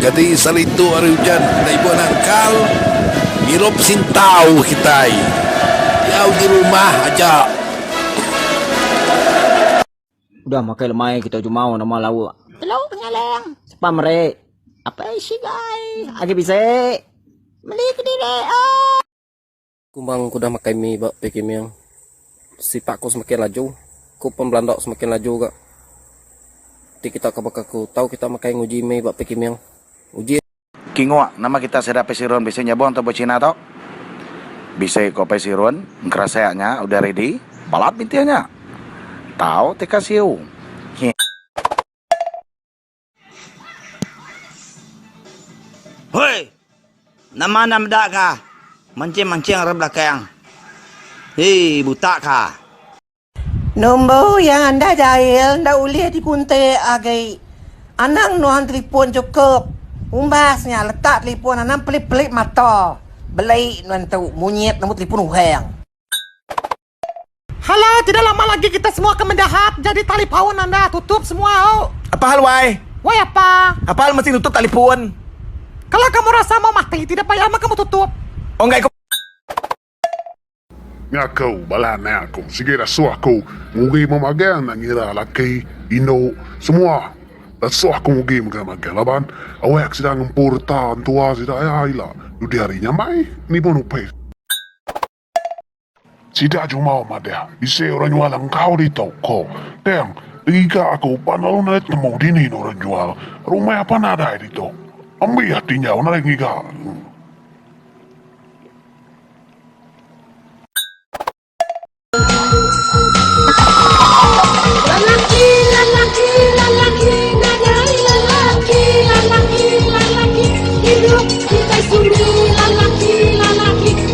Jadi sali tu hari ujan enda ibuh nangkal ngirup sintau kitai diau di rumah aja. Udah makai lemai kita jumau nama lauk. Telu penyalang. Sepa meri. Apai sigai. Agi bisi. Meli kediri. Ooh. Kumbang ku udah makai mi ba Pei Kiming. Sipak ku semakin laju. Ku pen belanda semakin laju ga. Ti kita ka baka ku tau kita makai nguji mi ba Pei Kiming. Uji. Kingok, nama kita sida Pei Sirun bisi nyabung tok buah China tok? Bisi ko Pei Sirun, engkerasa nya udah ready. Balat bintih nya. Tau teka siu. Nyi. Hoi! Nama enda meda ka? Mancing-mancing ari belakang. Hei, buta ka. Nombor yang anda jail enda ulih dikuntik agi. Anang nuan telefon chukup. Umbas nya letak telefon anang pelip-pelip mata. Beli nuan tu munyit nombor telefon orang. Hello, tidak lama lagi kita semua akan mendahat jadi talipun anda tutup semua oh. Apa hal why? Why apa? Apa hal mesti tutup talipun? Kalau kamu rasa mau mati tidak payah mah kamu tutup. Oh enggak ikut. Ni aku, balah ni aku. Sigi rasuh aku. Ngugi memagang nak ngira laki, indu, semua. Rasuh aku ngugi magang-magang. Laban, awak sida ngempu reta entua sida ya ila. Dudi hari nyamai, ni pun upis. Sida Jumau madah, Bisi orang nyual engkau ditu, ko. Tang, ngiga aku pan lalu narit nemu dini ne orang nyual. Rumah pan nadai ditu. Ambi ati nyau nadai ngiga aku.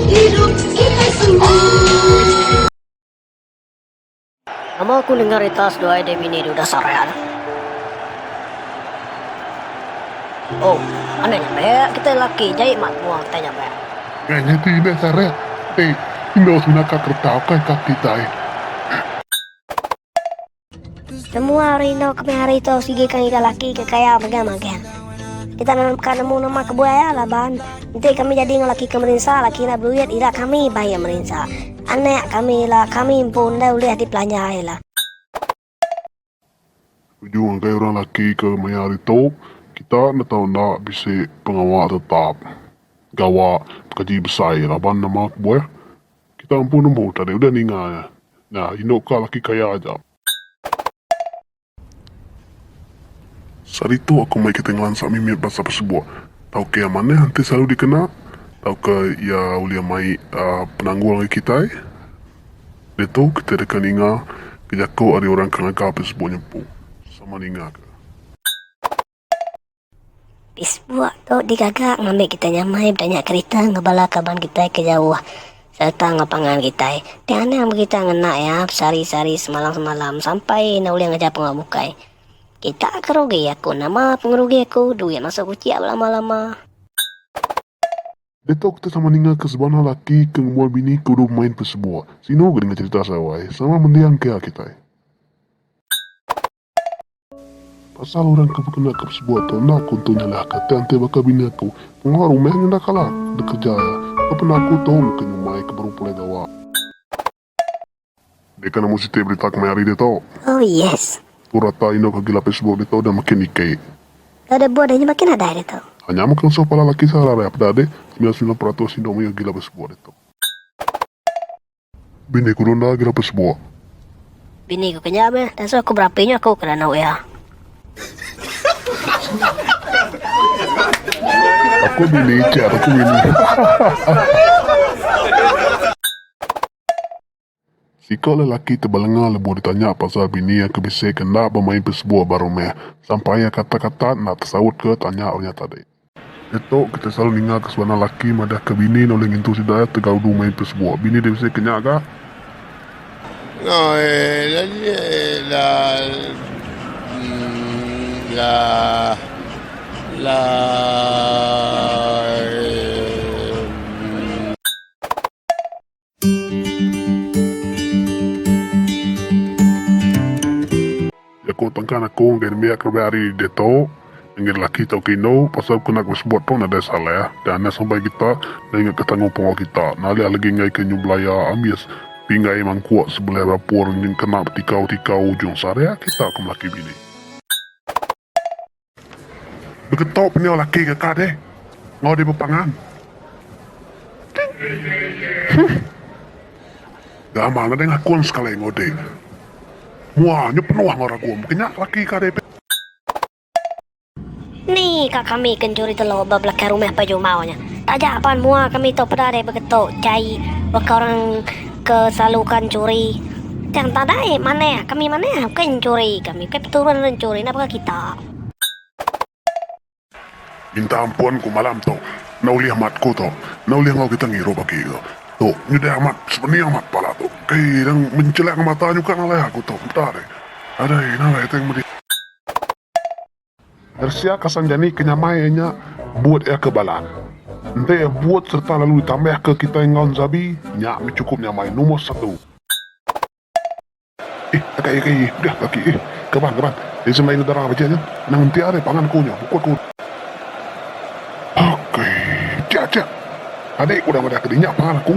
Idup kitai semua. Nama aku dengar ita seduai deh bini duda Saraya tu. Oh, anang nya beh kitai laki jai mat mua kitai nya beh. Nya nya ti deh Saraya. Enda usah naka kereta ukai ka kitai. Semua ari endur kemih hari tu sigi ke ngiga laki ke kaya mega magang. Kita ka nemu nama ke buai iya laban enti kami jadi enggau laki ke merinsa, laki enda beduit ila kami ba iya merinsa. Anak kami ila kami empu enda ulih dipelanja ila. Tuju ngagai orang laki ke maya hari tu kita enda tau enda bisi pengawa tetap gawa bekaji besai laban nama kebuah. Kita empu nemu tadi udah ninga iya. Nya indu ka laki kaya aja. Saritu aku meri kitai ngelansa mimit bansa pesebok. Tauka iya manah enti selalu dikena tauka iya ulih mai penanggul ngagai kitai. Ditu kitai deka ninga ke jaku ari orang ke ngaga pesebok nya empu sama ninga ke. Facebook tu digaga ngambi kitai nyamai betanya kerita enggau bala kaban kitai ke jauh sereta enggau pangan kitai. Ti anang meh kitai ngena iya besehari-sehari semalam-semalam sampai ne ulih ngejap pengawa bukai. Kita ke rugi aku nama pengerugi aku duit masuk kuchik belama-lama. Diatu kitai sama ninga ke sebana laki ke ngembuan bini ke udah bemain Facebook. Sinu ke ninga cherita sarawai sama mending ke kitai. Pasal orang ke bekena ke pesebut tu enda aku entu nyalahka ti anti baka bini aku. Pengawa rumah nyu enda kalah dek kereja iya. Ke pernah aku tu meka nyumai ke baru pulai gawa. Dia kena mu siti berita kemaya hari dia tu. Oh yes. Tu rata indu ke agi lapis sebut dia tu dah makin dikit. Dah ada buah dia nyu makin nadai dia tu. Ha nya meh ke ngesuh pala laki sara ari apeda deh. Semilan semilan peratus indu mayuh agi lapis sebut dia tu. Bini ku Nona ke dapat sebuah. Bini ku kenyah meh. Tang suah ku berapi nyu aku ke randau iya. Aku bini ichat aku bini. Siko lelaki ti belenga lebuh ditanya pasal bini iya ke bisi ke enda bemain pesebuah baru meh sampai iya katak-katak enda tesaut ke tanya orang nya tadi. Nya tu, kita selalu ninga ke sebenar laki madah ke bini ne ulih ngintu sida iya tegau du mai pesebuk. Bini di Mesir ke nya ga. Jaku tengkan aku enggai nembiak ke lebih ari diatu enggai lelaki tauka indu pasal ku enda ku sebut pun nadai salah dah enda sampai kita enda ingat ke tanggungjawab kita nalih lagi enggai ke nyu belaya ambis pinggai mangkuk sebelih dapur nyu kena betikau-tikau ujung sehariak kita ke melaki bini. Begetok penyu laki ke ka deh enggau di bepangan. Huh. Gamal nadai ngakun sekali enggau dek. Mua nyu penuh enggau ragum ke nya laki ka deh. Ni ka kami ke njuri telok ba belakang rumah Pak Jumau nya. Taja pan mua kami tu peda deh begetok jai baka orang. ke selalu ka nyuri tang tak ada ai manah kami manah bukai nyuri kami bukai peturun orang nyuri enda peka kita. Bintang ampun ku malam tu enda ulih amat ku tu enda ulih enggau kita ngirup agi tu tu nyudah amat sepening amat pala tu kai dang mencelak mata nyukang alai aku tu enda deh adai ina alai tang medi. Rsia kasang jani ke nyamai iya nya buut iya ke balan. Enti iya buut sereta lalu ditambah ke kitai enggau nzabi, nya mih chukup nyamai numor satu. Ih, teka iya ke ih, udah ke aki ih. Kaban, kaban. Isi melayu negara bejih nya. Nang enti ari pangan aku nya, bukut ku. Aki, tia, tia. Tadi ku udah madah ke dinya pangan aku.